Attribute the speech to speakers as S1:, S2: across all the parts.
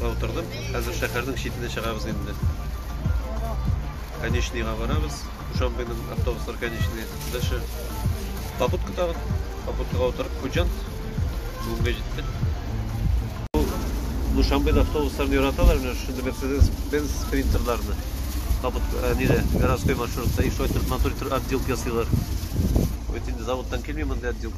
S1: Утырдым. Хәзер шәһәрнең читенә чыгабыз инде. Конечныйга барабыз. Душанбеның автобуслар конечный. Дальше попутка тагын. Попуткага утырып Хуҗант. Бүгенге җиттек. Душанбеда автобусларын яраталар, менә шундый Mercedes-Benz спринтерларны. Капот э, нире городской маршрутта и шулай торып матур итеп отделка ясыйлар. Вот инде заводтан килми мондай отделка.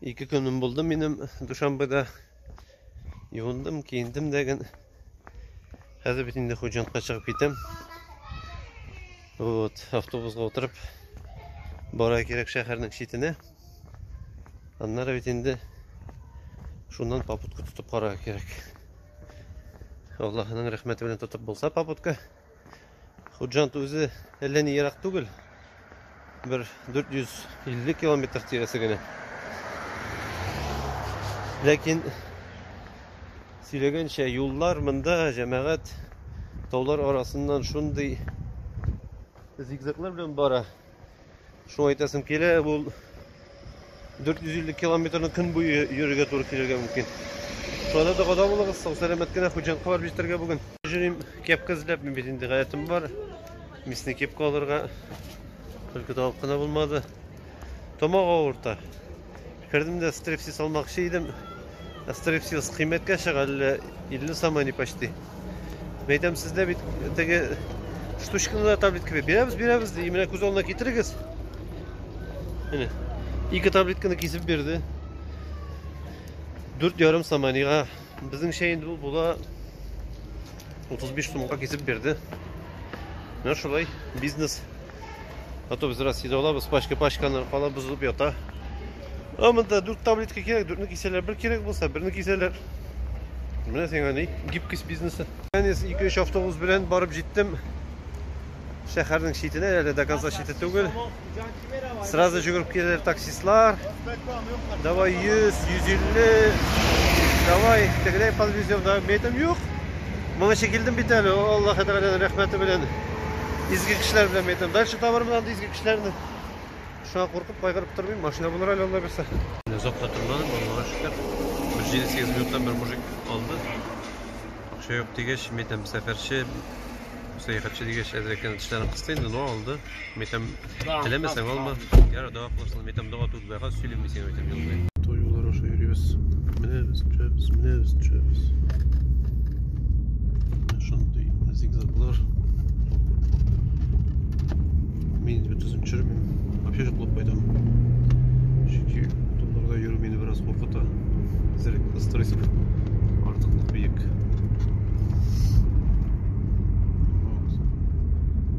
S1: Ике көнем булды минем Душанбеда. Юындым, киендем дәген. Хәзер бит инде Хуҗантка чыгып китәм. Вот, автобусга утырып бара кирәк шәһәрнең читенә. Аннары бит инде шуннан попутка тотып карарга кирәк. Аллаһының рәхмәте белән тотып булса попутка. Худжант үзе әллә ни ерак түгел. Бер 450 километр тирәсе генә. Ләкин сөйләгәнчә юллар монда җәмәгать таулар арасыннан шундый зигзаглар белән бара. Шул әйтәсем килә, бу 450 километрны көн буе йөрергә туры килергә мөмкин. Шулай да догада булыгыз, сау сәламәт кенә хуҗаныкка барып җитәргә бүген. Җөрим кепка эзләп, мин бит инде гадәтем бар. Мисне кепка алырга. Только табып кына булмады. Тамак авырта. Кердем дә стрипсис алмакчы идем. Ә стрипсис кыйммәткә чыга, әллә 50 сом они почти. Мин әйтәм, сездә бит теге штучканы да таблетка бирә. Бирәбез, бирәбез ди. Менә күз алдына китерегез. Менә. Ике таблетканы кисеп бирде. 4,5 сом анига. Безнеңчә инде ул була 35 сумга кисеп бирде. Менә шулай бизнес А то без Россиядә алабыз, пачка пачканы кала бозылып ята. А монда 4 таблетка кирәк, 4 кисәләр. Бер кирәк булса, берне кисәләр. Менә сиңа ни, гибкость бизнесы. Мин 2-3 автобус белән барып җиттем. Шәһәрнең читенә, әле до конца чите түгел. Сразу җөгереп киләләр таксистлар. Давай 100, 150. Давай, тегеләй подвезем, да, мәйтәм, юк. Моңа чекилдем бит әле, Аллаһ Тәгаләнең рәхмәте белән. Изге кешеләр белән мәйтәм. Дальше табармын анда изге кешеләрне. Шуңа куркып кайгырып тормыйм. Машина булыр әле Алла бирсә. Озак та тормадым, Аллага шөкер. Бер 7-8 минуттан бер мужик алды. Акча юк дигәч, мәйтәм, сәфәрче, сәяхәтче дигәч, әзрәктән тешләрен кысты инде, но алды. Мәйтәм, Теләмәсәң алма. Ярар, дога кылырсың. Мен там дога түгел, бәхәс сөйлим мисең әйтәм юлда. Тоюлар аша йөрибез. Менәбез, төшәбез, менәбез, төшәбез. Шундый зигзаглар. Мин бит үзем төшермим. Вообще җоклап кайтам. Чөнки туларда йөрү мине бераз куркыта. Зерек, стресс артыклык биек.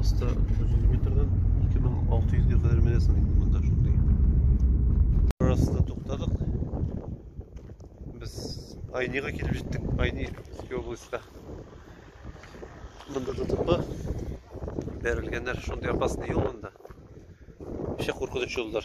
S1: Аста 900 метрден 2600 ге кадәр менәсең инде монда шундый. Арасында туктадык. Без Айнига килеп җиттек. Айни Иске областька. Монда ДТП бәрелгәннәр шундый опасный юл монда. Ши куркыныч юллар.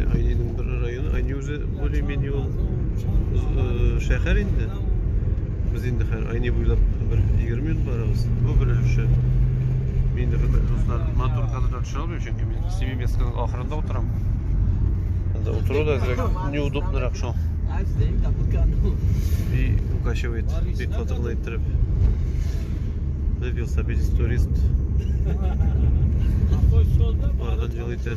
S1: Айниның бер районы, Айни үзе более-менее ул э, шәһәр инде. Без инде хәзер Айни буйлап бер 20 минут барабыз. Бу бер өлеше. Мин инде хөрмәтле дуслар, матур кадр төшерә алмыйм, чөнки мин Семимецканың ахырында утырам. Анда утыру да әзрәк неудобнырак шул. И укачивает, бик фатырлы иттереп. Бер велосипедист турист. Барган җылы итә.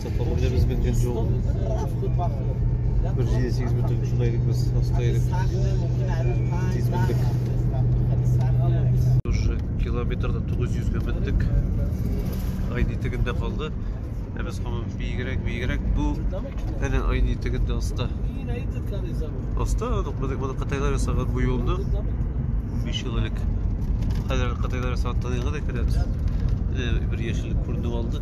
S1: Сапарны да без белгән җул. Бер җиде сигез бөтен шунда идек без, аста идек. Тиз белдек. Уже километрда 900 гә мендек. Айны тегендә калды. Ә без һаман биегрәк, биегрәк. Бу әнә айны тегендә аста. Аста, моны кытайлар ясаган бу юлны. 15 ел элек. Хәзер кытайлар ясаган таныйга да керәбез. Бер яшеллек күренеп алды.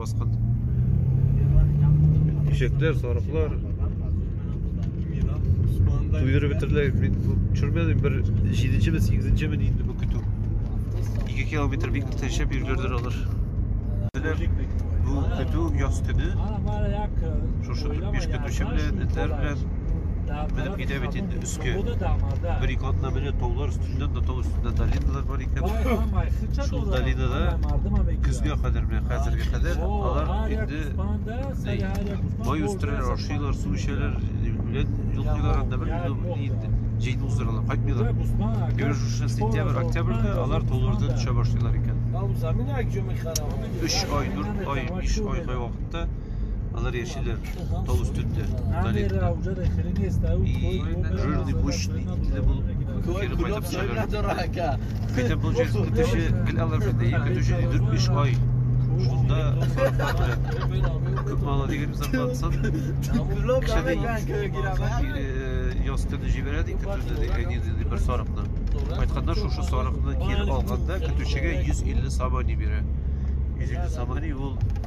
S1: Баскан. Ишекләр, сарыклар. Туйдырып бетерделәр. Мин төшермәдем. Бер 7-нче ме, 8-нче ме инде бу көтү. 2 километр бик тәшәп йөргәләр алар. Бу көтү яз көне. Шушы 45 көтүче белән, этләр белән. Китә бит инде өскә. Бер ике атна менә таулар өстендә, да тау өстендә долиналар бар икән. Шул долинада көзгә кадәр менә хәзергә кадәр алар инде май үстерәләр, ашыйлар, су эчәләр, үлән йолкыйлар анда бер инде җәйне уздыралар, кайтмыйлар. Гөр шушы сентябрь, октябрьдә алар тауларда төшә башлыйлар икән. 3 ай, 4 ай, 5 ай кай вакытта алар Чилер, тау өстендә, Намера уже рехрени стою. И жирный пушный итле булып кире кайтып чыгар. Көтә получается көтүче гел алар бит. И көтүче 4-5 ай. Шунда күп мала дигән зарплатасын. Кеше дә яз көне җибәрә ди көтүне ди әни ди бер сарыкны. Кайтканда шушы сарыкны кире алганда көтүчегә 150 сабани бирә. 150 сабани ул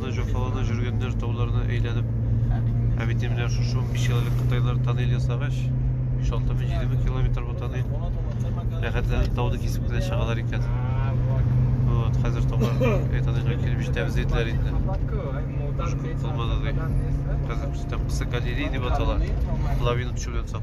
S1: Җафалана җөргәннәр тауларны әйләнеп. Ә бит менә шушы 15 еллык кытайлар тоннель ясагач, 5-6 мең 7 мең километр бу тоннель. Рәхәтләнеп тауды кисеп кенә чыгалар икән. Вот, хәзер таулар тоннельгә килеп җитәбез диделәр инде. Булмады ди. Хәзер күрсәтәм, кыса галерея дип атала. Лавина төшү белән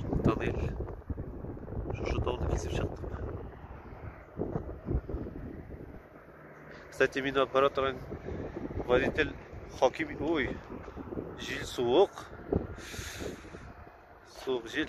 S1: Шылтадыйк. Шушы тауны кисеп чыктык. Кстати, мин аппарат торган водитель хаким... Ой, жил суык. Суык жил.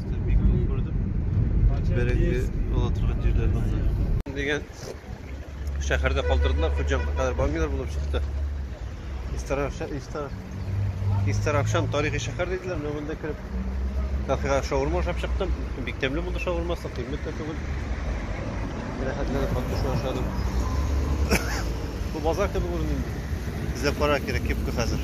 S1: Кәчтү бик күп күрдем. Бәрәңге ала торган җирләр булды. Дигән шәһәрдә калдырдылар, Хуҗанга кадәр бомбилар булып чыкты. Истаравша, Истар, Истаравшан тарихи шәһәр диделәр, менә монда кереп кафега шаурма ашап чыктым. Бик тәмле булды шаурмасы, кыйммәт тә түгел. Рәхәтләнеп хатты шуны ашадым. Бу базар кебек күренде. Эзләп карар кирәк, кепка хәзер.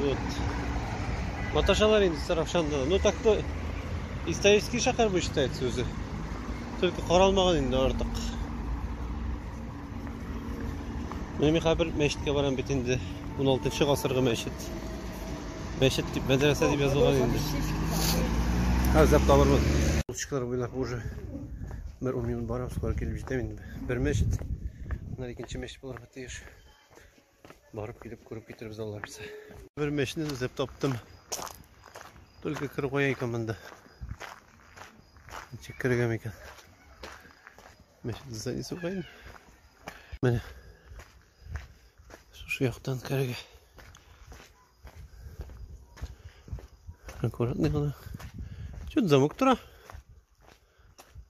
S1: Вот. Маташалар инде Сарапшанда. Ну так то исторический шәһәр бу считается үзе. Только каралмаган инде артык. Менә мин хәзер мәчеткә барам бит инде. 16 гасыргы мәчет. Мәчет дип, мәдрәсә дип язылган инде. Һәр зәп табырмыз. Улчыклар буйлап уже бер 10 минут барам, скоро килеп җитәм инде. Бер мәчет. Менә икенче мәчет булырга тиеш. Барып килеп күреп китербез алла бирсә. Бер мәчне эзләп таптым. Только кер куя икән монда. Ничек кергән икән? Мәчет зданиесе куйын. Менә. Шушы яктан керергә. Аккуратный гына. Чуть замок тора.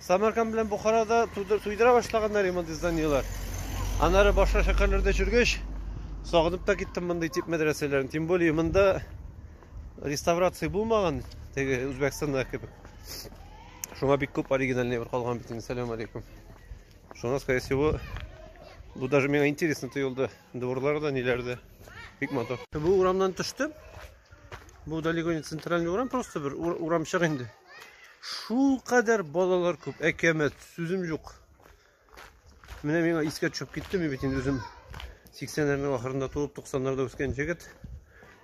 S1: Самарканд белән Бухарада туйдыра башлаганнар иман изданиеләр. Аннары башка шәһәрләрдә чүргәч, сагынып та киттем мондый тип мәдрәсәләрен. Тем более монда реставрация булмаган, теге Үзбәкстанда кебек. Шуңа бик күп оригинальный бер калган бит инде. Салам алейкум. Шуңа, скорее всего, бу даже миңа интересно тоелды. Дворлары да ниләрдә. Бик матур. Бу урамнан төштем. Бу далеко не центральный урам, просто бер урамчык инде. Шул кадәр балалар күп, әкәмәт, сүзем юк. Менә миңа искә төшеп китте, мин бит инде үзем 80-ләрнең ахырында туып, 90-ларда үскән җегет.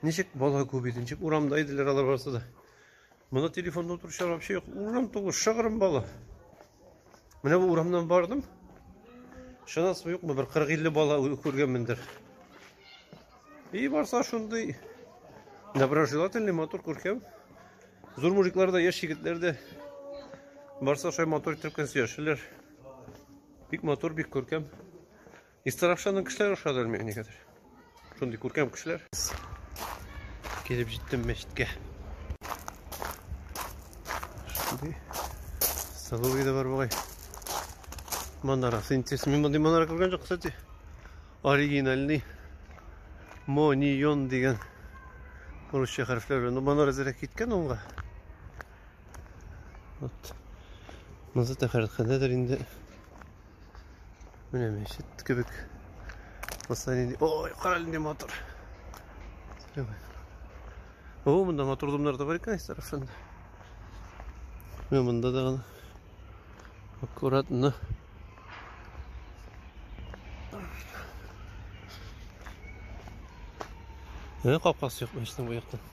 S1: Ничек бала күп иде, ничек урамда иделәр алар барысы да. Моны телефонда утыручылар вообще юк. Урам тулы, шыгрым бала. Менә бу урамнан бардым. Шанасы юкмы, бер 40-50 бала күргәнмендер. И барса шундый доброжелательный мотор күркәм. Зур мужиклар да, яшь егетләр дә барса шулай мотор итеп көн сөяшәләр. Бик мотор, бик күркәм. Истарапшаның кешеләр ошады әлме әни хәзер. Шундый күркәм кешеләр. Килеп җиттем мәчеткә. Шундый сылуы да бар бугай. Манарасы интересный. Мин мондый манара күргән җок, кстати. Оригинальный Монион дигән русча хәрефләр белән. Манара зирәк киткән онга. Вот. Мазата хәрәкәтендәдер инде. Менә мәчет кебек. Посмотрите. Ой, кара әле матур. О, монда матур домнар да бар икән совершенно. Менә монда да гына. Аккуратно. Менә капкасы юк мәчетнең бу яктан.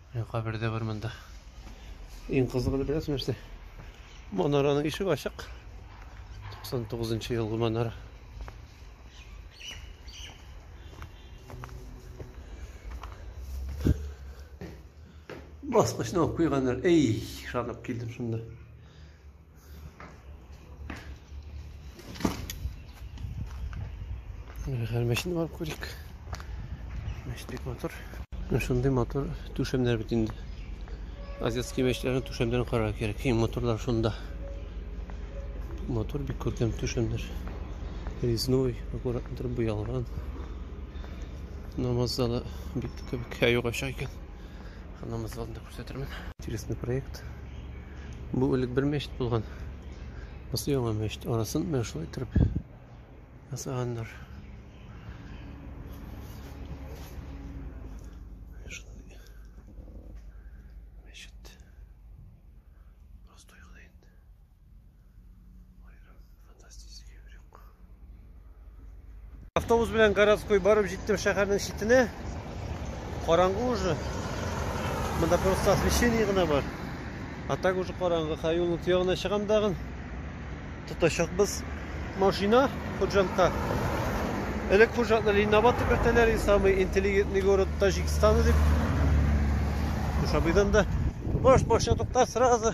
S1: Менә кабер дә бар монда. Иң кызыгы беләсең нәрсә? Манараның ишеге ачык. 99 нчы елгы манара. Баскычны алып куйганнар. Эй, шанып килдем шунда. Хәл мәчет бар күрик. Мәчет бик матур. Менә шундый матур түшәмнәр бит инде. Азиатский мәчетләрнең түшәмнәрен карарга кирәк. Иң матурлар шунда. Матур бик күркәм түшәмнәр. Резной, аккуратно торып буялган. Намаз залы бик кебек һәй югачак икән. Намаз залында күрсәтермен. Интересный проект. Бу элек бер мәчет булган. Бусы яңа мәчет. Арасын менә шулай иттереп ясаганнар. Автобус белән городской барып җиттем шәһәрнең читенә. Караңгы уже. Монда просто освещение гына бар. А так уже караңгы. Хәй юлның тиягенә чыгам дагын. Тотачакбыз машина хуҗантка. Элек хуҗатны Ленинабад дип йөртәләр, и самый интеллигентный город Таҗикстана дип. Шабыйдан да. Баш машина туктар сразу.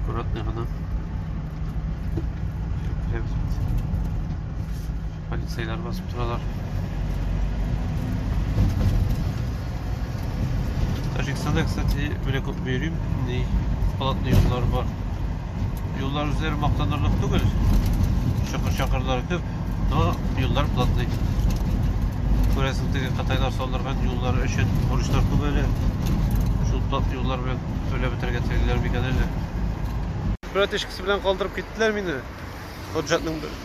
S1: Аккуратный гына. Полицейлар басып торалар. Таҗикстанда, кстати, бер күп бирим, ни халатны юллар бар. Юллар үзләре мактанырлык түгел. Чакыр-чакырлар күп, но юллар платный. Күрәсең, теге кытайлар салдырган юллары өчен бурычлар күп әле. Шул платный юллар белән Түләп бетерергә телиләр микән әллә? Братишкасы белән калдырып киттеләр мине. Ходжатның бер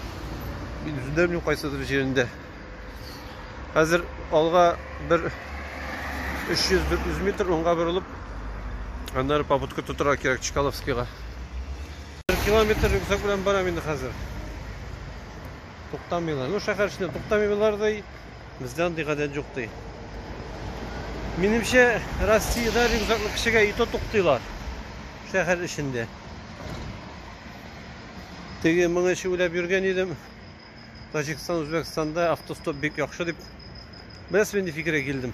S1: мин үзем дә белмим кайсыдыр җирендә. Хәзер алга бер 300-400 метр уңга борылып, аннары попутка тотырга кирәк Чкаловскийга. Бер километр рюкзак белән барам инде хәзер. Туктамыйлар. Ну, шәһәр эчендә туктамыйлар да Бездә андый гадәт юк ди. Минемчә, Россиядә рюкзаклы кешегә ито туктыйлар. Шәһәр эчендә. Теге моңа эче уйлап йөргән идем. Таҗикстан, Үзбәкстанда автостоп бик яхшы дип. Беләсез, нинди фикергә килдем?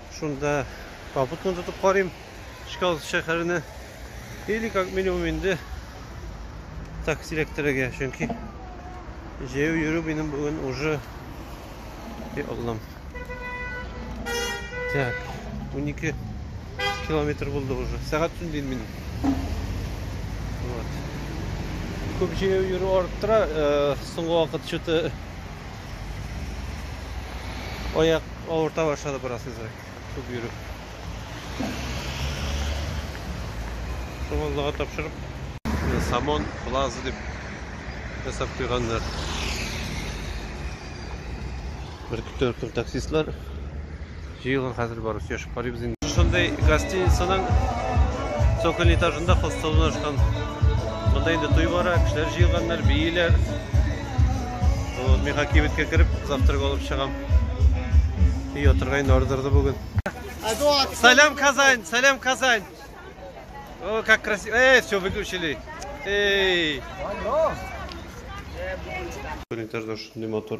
S1: Шунда попутно тотып карыйм Чкаловск шәһәренә. Или как минимум инде такси эләктерергә, чөнки җәяү йөрү минем бүген уже и Аллам. Так, 12 километр булды уже. Сәгать төн дин минем. Вот. Күп җәяү йөрү арттыра, э, соңгы вакыт что-то Аяк авырта башлады бераз үзәк. Күп йөреп. Шуңаллыга тапшырып. Самон плаза дип ясап куйганнар. Бер төркем таксистлар Җыелыр хәзер бары сөйләшеп карыйбыз инде. Шундый гостиницаның цоколь этажында хостел урнашкан. Монда инде туй бара, кешеләр җыелганнар, бииләр. Вот, мин хакибеткә кереп, завтрак алып чыгам. И отырга инде ардырды бүген. Салям Казань, салям Казань. О, как красиво. Эй, все выключили. Эй. Этажда шундый мотор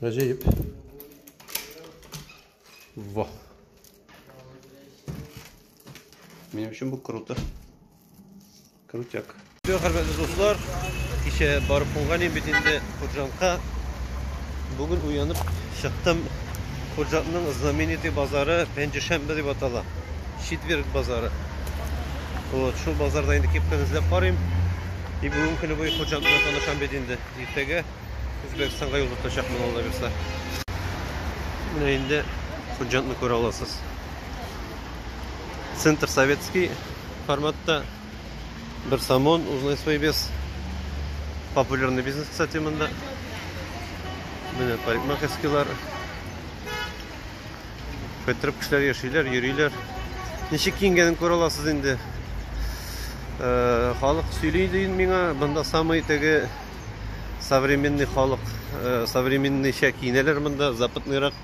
S1: Гаҗәеп. Вау. Минем өчен бу круто. Крутяк. Все, хөрмәтле дуслар, кичә барып булган бит инде Хуҗанка. Бүген уянып чыктым. Хуҗатның знаменитый базары Пенджешәмбе дип атала. Четверг базары. Вот, шул базарда инде кепканы эзләп карыйм. И бүгенге көне буе Хуҗатны танышам бит инде. Иртәгә Үзбәкстанга юл тотачакмын алла бирса. Менә инде Хуҗантны күрә аласыз. Центр советский форматта бер самон узнай свой вес. Популярный бизнес, кстати, монда. Менә парикмахерскийлар. Фәтрәп кешеләр яшиләр, йөриләр. Ничек киенгәнен күрә аласыз инде. Э, халык сөйли дин миңа, монда самый теге современный халык, э, современныйча киенәләр монда, западныйрак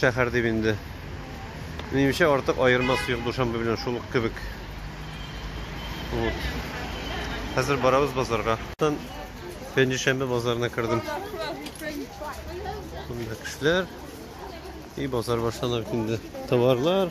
S1: шәһәр дип инде. Минемчә артык аермасы юк Душанбе белән шул ук кебек. Вот. Хәзер барабыз базарга. Пенҗешәмбе базарына кердем. Монда кешеләр и базар башланып инде. Товарлар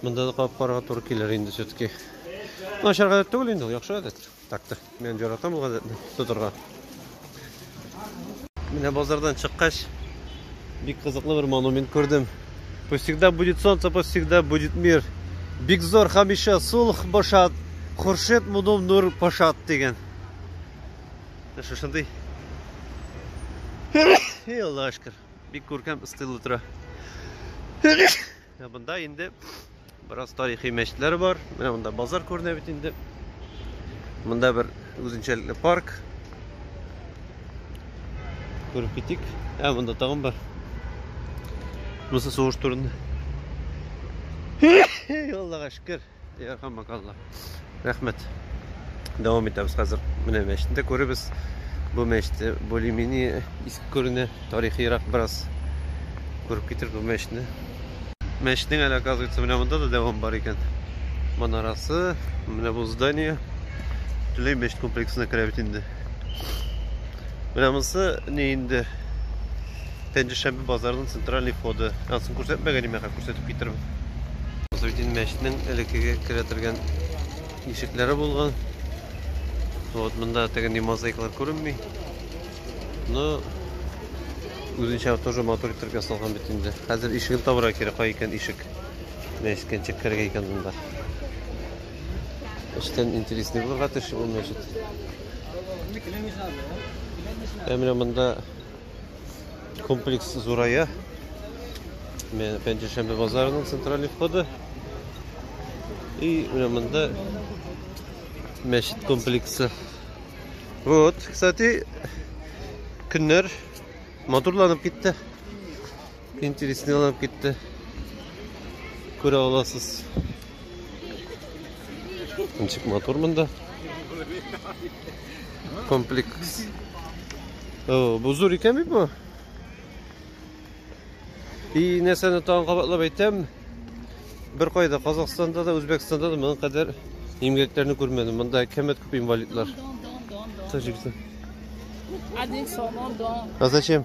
S1: Монда да кабып карарга туры килер инде все-таки. Начар гадәт түгел инде, яхшы гадәт. Такты. Мен яратам бу гадәтне тотырга. Менә базардан чыккач, бик кызыклы бер монумент күрдем. Пусть всегда будет солнце, пусть всегда будет мир. Бик зор хәмишә сулх башат, Хуршет мудум нур пашат дигән. Шушындый. Эй, Аллашкар. Бик күркәм стиль утыра. Монда инде бераз тарихи мәчетләр бар. Менә монда базар күренә бит инде. Монда бер үзенчәлекле парк. Күреп китик. Ә монда тагын бар. Монысы сугыш турында. Аллага шөкер. Ярхамакалла. Рәхмәт. Дәвам итәбез хәзер. Менә мәчетне дә күребез. Бу мәчетте более-менее иске күренә. Тарихиерак бераз күреп китер бу мәчетне. Мәчетнең әле, оказывается, менә монда да дәвам бар икән. Манарасы, менә бу здание. Төрле мәчет комплексына керә бит инде. Менә монысы не инде Пәнҗешәмбе базарының центральный входы. Ансын күрсәтмәгән име, хәзер күрсәтеп китерәм. Насретдин мәчетенең элеккеге керә торган ишекләре булган. Вот монда теге ни мозаиклар күренми. Но үзенчә тоже матур итеп ясалган бит инде. Хәзер ишеген табырга кирәк, кай икән ишек. Мәчеткә ничек керергә икән монда. Эштән интересный булырга тиеш ул мәчет. Ә менә монда Комплекс зурая. Мен Пенджешембе базарының центральный входы. И менә монда мәчет комплексы. Вот, кстати, көннәр матурланып китте. Интересный алып китте. Күрә аласыз. Ничек матур монда. Комплекс. О, бу зур икән бит бу. И нәрсәне тагын кабатлап әйтәм, бер кайда Казахстанда да, Үзбәкстанда да моның кадәр имгәкләрне күрмәдем. Монда кәмәт күп инвалидлар. Тәҗикстан. А зачем?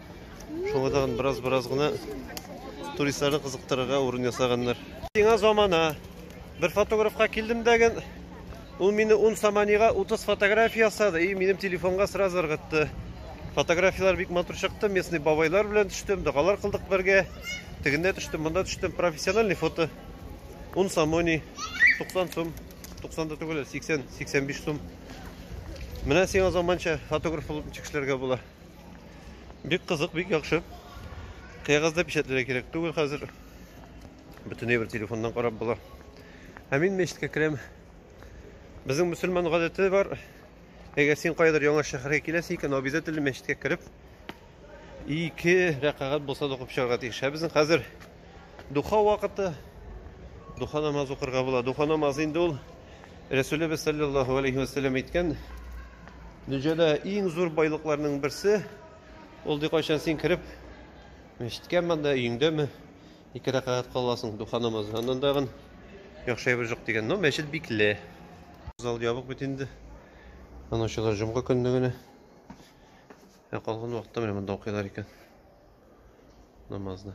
S1: Шуңа тагын бераз-бераз гына туристларны кызыктырырга урын ясаганнар. Сиңа замана. Бер фотографка килдем дәген. Ул мине 10 саманига 30 фотография ясады и минем телефонга сразу ыргытты. Фотографияләр бик матур чыкты. Местный бабайлар белән төштем, догалар кылдык бергә. Тегендә төштем, монда төштем. Профессиональный фото. 10 самони 90 сум. 90 да түгел, 80, 85 сум. Менә сиңа заманча фотограф булып чыгышларга була. Бик кызык, бик яхшы. Кәгазьдә печатләргә кирәк түгел хәзер. Бөтенләй бер телефоннан карап була. Ә мин мәчеткә керәм. Безнең мусульман гадәте бар. Әгәр син кайдыр яңа шәһәргә киләсең икән, обязательно мәчеткә кереп, ике рәкагать булса да укып чыгарга тиеш. Ә безнең хәзер Духа вакыты. Духа намаз укырга була. Духа намазы инде ул Рәсүлебез саллаллаһу алейхи ва сәлләм әйткән, дөньяда иң зур байлыкларның берсе, ул ди кайчан син кереп, мәчеткә монда өеңдәме, ике рәкәгать кыласың духа намазы. Аннан тагын яхшы әйбер юк дигән. Но мәчет бикле. Зал ябык бит инде. Аны ачалар җомга көнне генә. Ә калган вакытта менә монда укыйлар икән. намазны.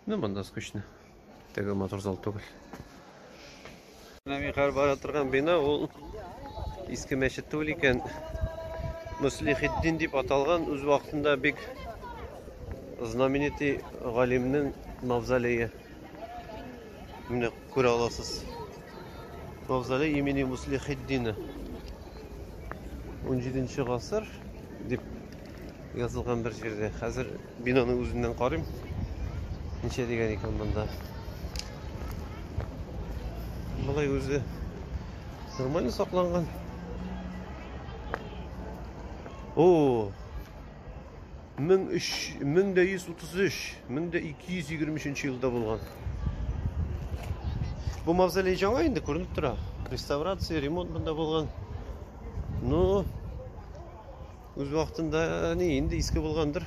S1: Ну, монда скучно. Теге матур зал түгел. Михаил бара торган бина ул иске мәчет түгел икән. Муслихиддин дип аталган үз вакытында бик знаменитый галимнең мавзолее. Менә күрә аласыз. Мавзолей имени Муслихиддина. 17 гасыр дип язылган бер җирдә. Хәзер бинаны үзеннән карыйм. Ничә дигән икән монда? Болай үзе нормально сакланган. О! 1133, 1223 елда булган. Бу мавзолей жаңа инде күренеп тора. Реставрация, ремонт монда булган. Ну, Үз вакытында ни, инде иске булгандыр.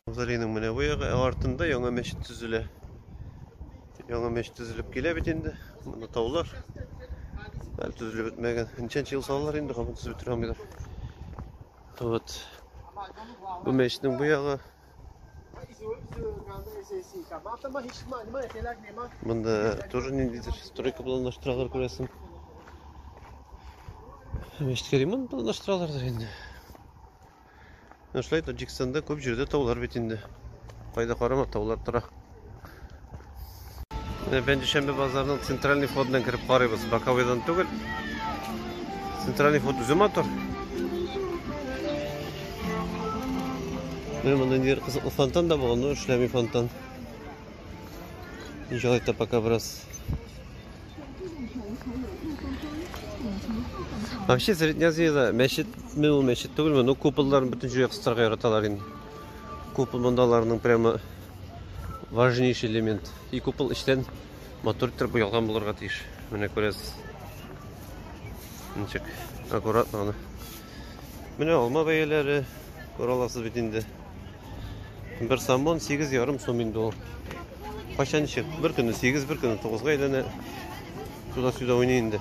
S1: Мавзолейның менә бу ягы, ә артында яңа мәчет төзелә. Яңа мәчет төзелеп килә бит инде. Монда таулар. Әле төзелеп бетмәгән. Ничәнче ел салалар инде, кабын төзелеп бетерә алмыйлар. Вот. Бу мәчетнең бу ягы Бында тоже ниндидер стройка планлаштыралар күрәсең. Мәчеткә ремонт планлаштыралардыр инде. Шулай Таджикстанда күп җирдә таулар бит инде. Кайда карама таулар тора. Менә Бәндишәмбе базарының центральный входыннан кереп карыйбыз. Баковыйдан түгел. Центральный вход үзе матур. Менә монда ниндидер кызыклы фонтан да булган, но эшләми фонтан. Ничалай та пока бераз. Вообще Среднязиеда мәчет, мен ул мәчет түгелме, но куполларын бөтен җиргә кыстырырга яраталар инде. Купол мондаларның прямо важнейший элемент. И купол эчтән матур иттереп буялган булырга тиеш. Менә күрәсез. Ничек аккуратно гына. Менә алма бәяләре күраласыз бит инде. Бер самон 8,5 сум инде ул. Кайчан ничек? Бер көне 8, бер көне 9-га әйләнә. Туда-сюда уйный инде.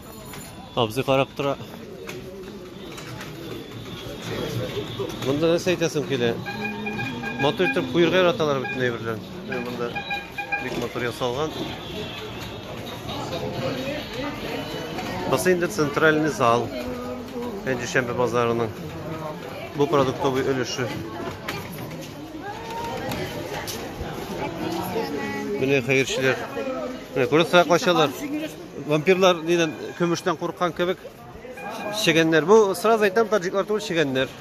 S1: Абзый карап тора. Монда нәрсә әйтәсең килә? Матур итеп куерга яраталар бөтен әйберләрен. Монда бик матур ясалган. Басы инде центральный зал. Пенджишәмбе базарының. Бу продуктовый өлеше. Менә хәерчеләр. Менә күрәсең, качалар. Вампирлар нидән көмештән курыккан кебек чегәннәр. Бу сразу әйтәм, таҗиклар түгел чегәннәр.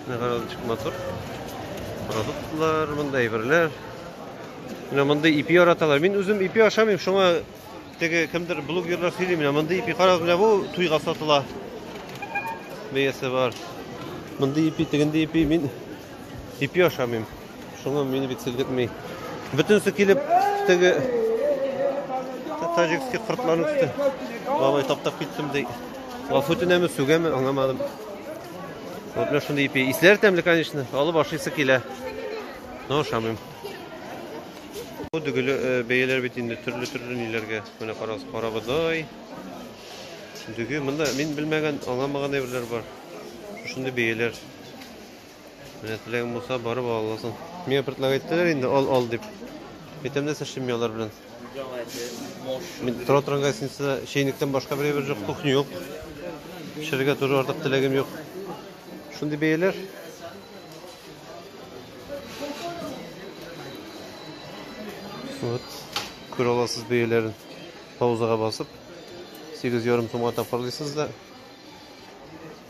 S1: Нәгәрәдик мотор. Продуктлар, монда әйберләр. Менә монда ипи яраталар. Мин үзем ипи ашамыйм, шуңа теге кемдер блогерлар сөйли менә монда ипи карагыз менә бу туйга сатыла. Бәясе бар. Монда ипи, тегендә ипи, мин ипи ашамыйм. Шуны мин бит селгетми. Бөтенсе килеп теге таҗикский кыртларны күрде. Бабай таптап киттем ди. Гафу тенәме, сүгәме, аңламадым. Вот мен шундый ипи. Исләр тәмле, конечно. Алып ашыйсы килә. Но ашамыйм. Бу дөгеле э, бәяләр бит инде төрле-төрле ниләргә. Менә карагыз, карабодай. Дөге, монда мин белмәгән, аңламаган әйберләр бар. Шундый бәяләр. Менә теләгең булса, барып ала аласың. Миңа бертләр әйттеләр инде, ал, ал дип. Әйтәм нәрсә эшлим мин алар белән. Мин тора торган гостиница чәйнектән башка бер бер жоқ, кухня юк. Пешерергә тоже артык теләгем юк. Шундый бәяләр. Вот. Күрә аласыз бәяләрен. Паузага басып 8,5 сумга тапарлыйсыз да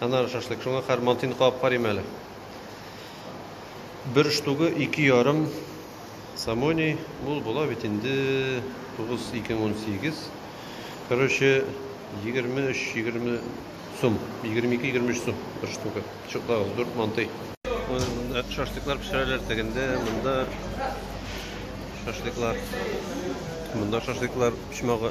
S1: Аннары шашлык. Шуңа хәр мантыйны кабып карыйм әле. Бер штугы ике ярым самоний. Мул була бит инде. 9, 2, 18. Короче, 23-20 сум. 22-23 сум бер штугы. Чуклар, зур мантый. Шашлыклар пешерәләр тегендә, монда шашлыклар. Монда шашлыклар почмагы.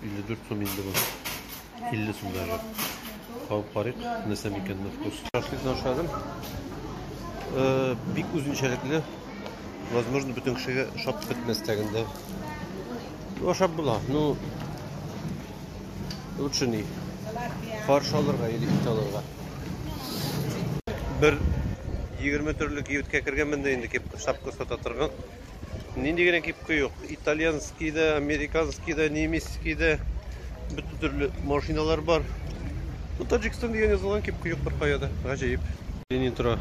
S1: 54 сум инде бу. 50 сум даже. Кабып карыйк, нәрсә микән на вкус. Шашлыкны ашадым. Э, бик үзенчәлекле. Возможно, бөтен кешегә шап бетмәс тәгендә. Ну, ашап була. Ну, лучше ни. Фарш алырга или ит алырга. Бер 20 төрле киюткә кергәнмен дә инде кеп шапка сата торган. Нинди генә кипкә юк. Итальянский да, американский да, немецкий да. Бөтен төрле машиналар бар. Ну, Таджикстан дигән язылган кипкә юк бер кая да. Гаҗәеп. Ленин тора.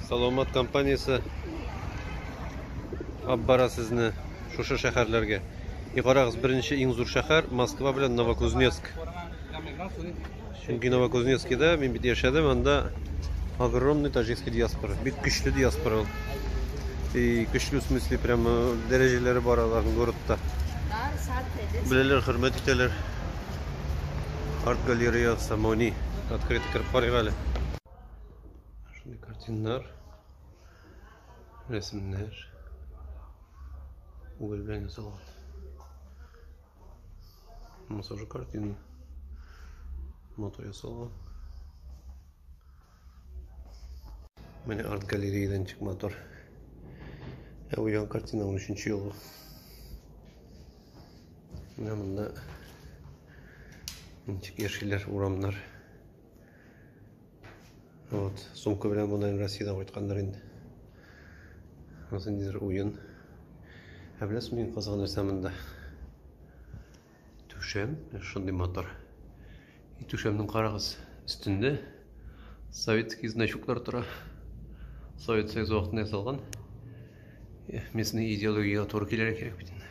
S1: Саламат компаниясе алып бара сезне шушы шәһәрләргә. И карагыз, беренче иң зур шәһәр Москва белән Новокузнецк. Чөнки Новокузнецкида мин бит яшәдем, анда огромный таҗикский диаспора. Бик көчле диаспора ул. И көчле в смысле прямо э, дәрәҗәләре бар аларның городта. Беләләр, хөрмәт итәләр. Арт галерея Самони открыт кереп карыйк әле. Шундый картиннар, рәсемнәр. Угол белән ясалган. Массажы картины. Мото ясалган. Менә арт галереядан чык мотор. Ә бу ян картина 13 елгы. Менә монда ничек яшиләр урамнар. Вот, сумка белән монаем Россиядән кайткандыр инде. Вот ниндидер уен. Ә беләсең мин кызган нәрсә монда? Түшәм, шундый мотор. И түшәмнең карагыз, өстендә советский значоклар тора. Совет Союзы вакытында ясалган. Местный идеология туры килергә кирәк бит инде.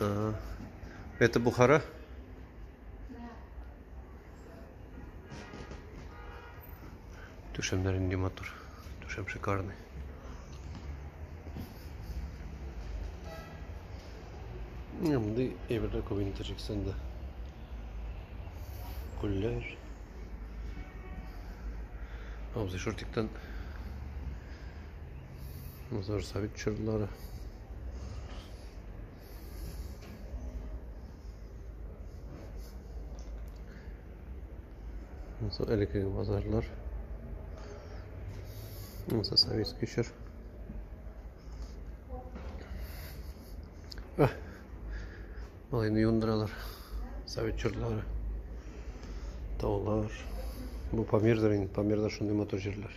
S2: А,
S1: это Бухара? Түшәмнәр инде матур. Түшәм шикарный. Менә мондый әйберләр күп инде Таҗикстанда. Күлләр. Абзый шортиктан. Мазар сабит чырлары. Мынсы элеккеге базарлар. Мынсы советский чор. А. Малайны юындыралар. Совет чорлары. Таулар. Бу Памирдер инде. Памирда шундый мотор җирләр.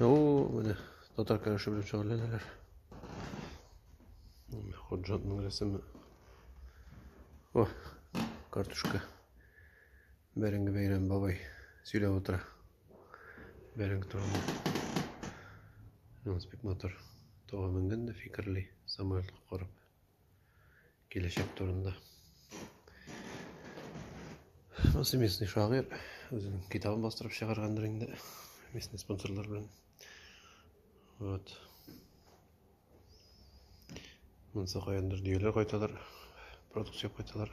S1: О, менә татар көрәше белән шөгыльләнәләр. Ходжатның рәсеме. О, картушка. Бәрәңге бәйрәм бабай сөйләп утыра. Бәрәңге турында. Янс бик матур. Тога менгән дә фикерли, самолетка карап. Киләчәк турында. Монысы местный шагыйрь. Үзенең китабын бастырып чыгаргандыр инде. Местный спонсорлар белән. Вот. Монысы каяндыр дөяләр кайталар. Продукция кайталар.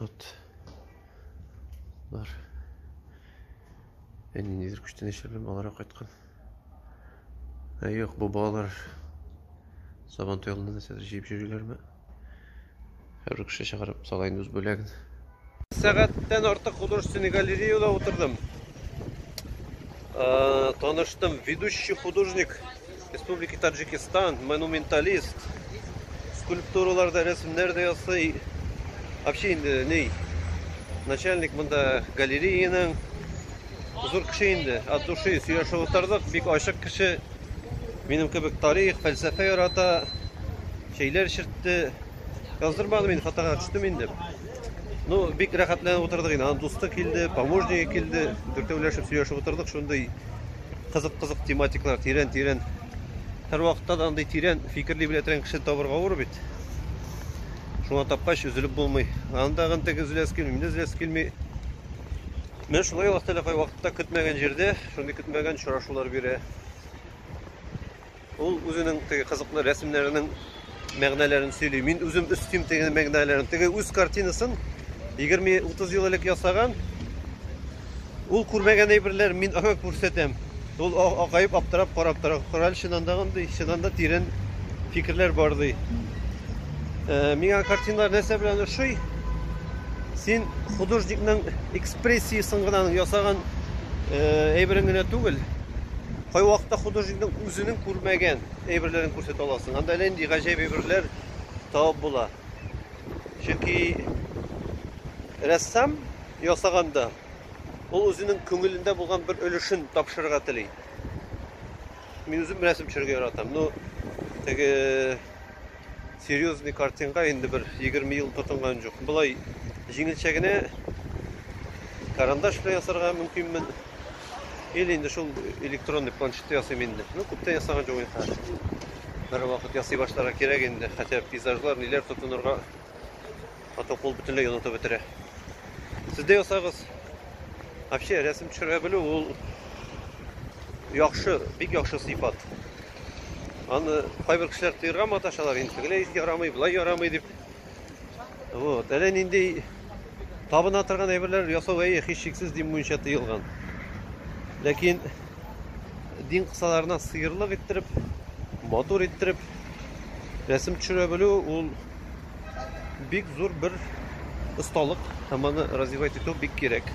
S1: Вот. Бар. Әни нидер күчтән яшерелеп алара кайткан. Ә юк, бу балалар сабан туялында нәрсәдер җыеп йөриләрме? Хәбер кеше чыгарып сала инде үз бүләген. Сәгатьтән артык художественный галереяда утырдым. Таныштым, ведущий художник Республика Таджикистан, монументалист. Скульптуралар да, рәсемнәр дә ясый. Вообще инде ни? Начальник монда галереяның зур кеше инде. От души сөйләшеп утырдык. Бик ачык кеше. Минем кебек тарих, фәлсәфә ярата. Чәйләр чертте. Яздырмадым инде, хатага төштем инде. Ну, бик рәхәтләнеп утырдык инде. Аның дусты килде, помощнигы килде. Дүртәүләшеп сөйләшеп утырдык шундый кызык-кызык тематиклар, тирән-тирән. Һәр вакытта да андый тирән фикерли белә торган кеше табырга авыр бит. Шуңа тапкач үзелеп булмый. Анда гын теге үзләс килми, миндә үзләс килми. Менә шулай Аллаһ Тәгалә кай вакытта көтмәгән җирдә шундый көтмәгән очрашулар бирә. Ул үзенең теге кызыклы рәсемнәренең мәгънәләрен сөйли. Мин үзем өстим теге мәгънәләрен. Теге үз картинасын 20-30 ел элек ясаган. Ул күрмәгән әйберләр мин аңа күрсәтәм. Ул акаеп аптырап карап тора. Корал чынандагы ди, чынанда тирән фикерләр бар ди. Э, миңа картиналар нәрсә белән ошый? Син художникның экспрессиясен генә ясаган э, әйберен генә түгел, Кайвакытта художникның үзенең күрмәгән әйберләрен күрсәтә аласың. Анда әллә нинди гаҗәеп әйберләр табып була. Чөнки рәссам ясаганда ул үзенең күңелендә булган бер өлешен тапшырырга тели. Мин үзем рәсем төшерергә яратам. Ну, теге серьезный картинга инде бер 20 ел тотынган жоқ. Былай җиңелчә генә карандаш белән ясарга мөмкинмен. Или инде шул электронный планшетта ясыйм инде. Ну, күптән ясаган жоқ инде хәзер. Бер вакыт ясый башларга кирәк инде, хотя пейзажлар ниләр тотынырга ата кул бөтенләй онытып бетерә. Сез дә ясагыз. Вообще рәсем төшерә белү ул яхшы, бик яхшы сыйфат. Аны кайбер кешеләр тыерга маташалар, инде тегеләй ярамый, былай ярамый дип. Вот, әле нинди табына торган әйберләр ясау әйе, һичшиксез дин буенча тыелган. Ләкин дин кысаларына сыерлык иттереп, матур иттереп рәсем төшерә белү ул бик зур бер осталык һәм аны развивать итү бик кирәк.